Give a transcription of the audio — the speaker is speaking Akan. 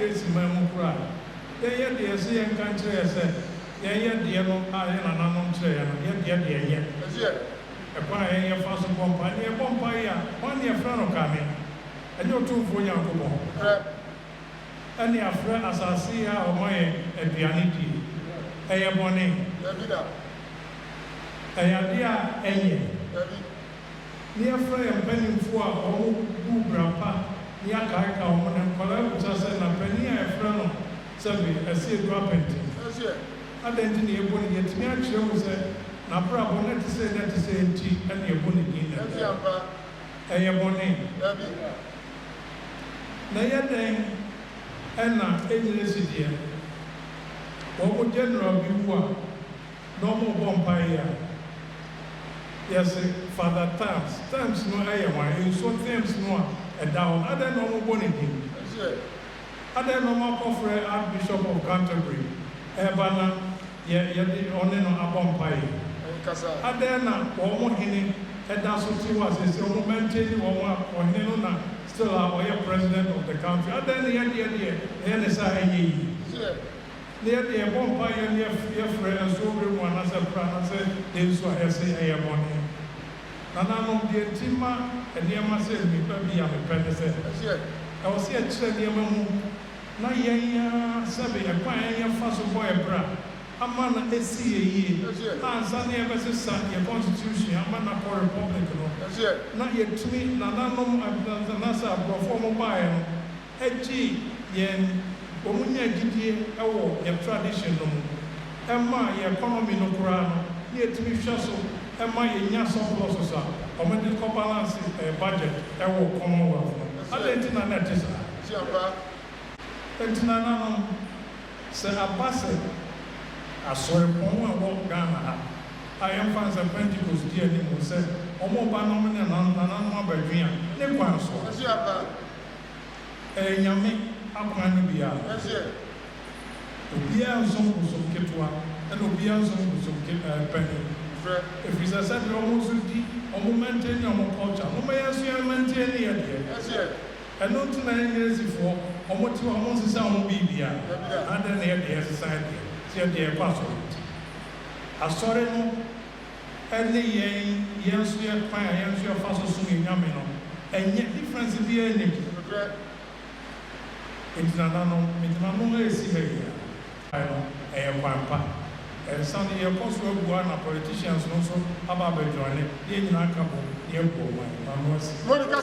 Yesi man mu kura a, yɛn yɛ deɛ ɛse yɛn ka nkyerɛ yɛ sɛ yɛn yɛ deɛ no a yɛn nananom kyerɛ yɛn no, yɛ deɛ deɛ ɛyɛ. Ɛkwan a yɛn yɛ fa so bɔ mpae ne yɛ bɔ mpae yi a, hwan ne ɛfrɛ no kane? Ɛnyɛ Otumfoɔ Nyankopɔn? Ɛne afrɛ asase yi a ɔma yɛn aduane die, ɛyɛ bɔne? Ɛyɛ adeɛ a ɛyɛ? ne yɛfrɛ yɛn mpanyimfo a wɔbuu bra pa ne yɛakaakaw wɔn na nkwadaa abisa sɛ, Na panin a yɛfrɛ no Sɛbe asi adu apɛn te? Adɛn nti na yɛbɔ no din? Yɛatumi akyerɛ mu sɛ n'abrabɔ nnɛ te sɛ nnɛ te sɛ enti na yɛbɔ no din nnɛ. Ɛyɛ bɔne? Dabi. Na ɛyɛ dɛn na ɛnyina si deɛ wɔn General bi wu a? na ɔmo bɔ mpae yi a yɛ se Father Thames, Thames no yɛ hwan? Nsuo Thames no a ɛda hɔ no adɛn na ɔmo bɔ ne din? Adɛn na ɔmo akɔ frɛ Archbishop of Canterbury ɛɛba na yɛ yɛde ɔne no abɔ mpae yi? Adɛn na ɔmo hene ɛda so te hɔ a seesei ɔmo maintaini wɔn a ɔhene no na still a ɔyɛ President of the country? Adɛn na yɛdeɛ deɛ ɛyɛ ne saa ɛnyɛ yie? na yɛde yɛn bɔ mpaeɛ na yɛfrɛ nso bere mu anaasɛ kora no sɛ yɛn nsu a yɛse ɛyɛ bɔne. Nananom, deɛ nti ma nneɛma sɛ mmipa bi a mepɛ ne sɛ, ɛwɔ sɛ yɛkyerɛ nneɛma mu na yɛn ara sɛbe ɛkwan a yɛn fa so bɔ yɛn bra ama na ɛsi yɛn yie ansa na yɛbɛsesa yɛn constitution ama no akɔ republic no na yɛtumi, nananom anaasɛ aborɔfo a wɔbaeɛ no, gyee yɛn wɔnya gyidie wɔ yɛn tradition no mu ma yɛn economy no koraa no na ɛtumi hwɛ so ma yɛnya surpluses a wɔde kɔ balance budget wɔ Commonwealth no. Adɛn nti na na ɛte saa? Enti nananom, sɛ aba sɛ asoɛpɔn a ɛwɔ Ghana ha a yɛmfa no sɛ Pentecost di anim sɛ wɔreba na wɔne nananom abɛdwe a, ne kwan so a. Ɛyɛ Nyame akwan no bi a ɛseɛ, Obiara nsom bosom ketewa ɛna obiara nsom bosom ke ɛɛ panin. Ɛfiri sɛ sɛdeɛ wɔn nso di wɔn mɛnten ne wɔn culture no momma yɛnso yɛn mɛnten ne yɛn deɛ. Ɛno nti na Engiresifoɔ wɔn te hɔ a wɔn nsesa wɔn biribiara, adɛn na yɛn deɛ yɛsesa yɛn deɛ? Sɛ yɛn deɛ yɛkɔ asɔre nti. Asɔre no. ne yɛn yɛn nso yɛ kwan a yɛn nso yɛfa so som yɛn Nyame no ɛnyɛ difference biaa nnim nokorɛ nti nananom mede ma mo ɛresi ha yi a. Kwan no ɛyɛ kwan pa ɛnsa no yɛkɔ so abua na politicians no nso aba abɛ joine na yɛn nyinaa aka bom na yɛabu ɔman ano asi.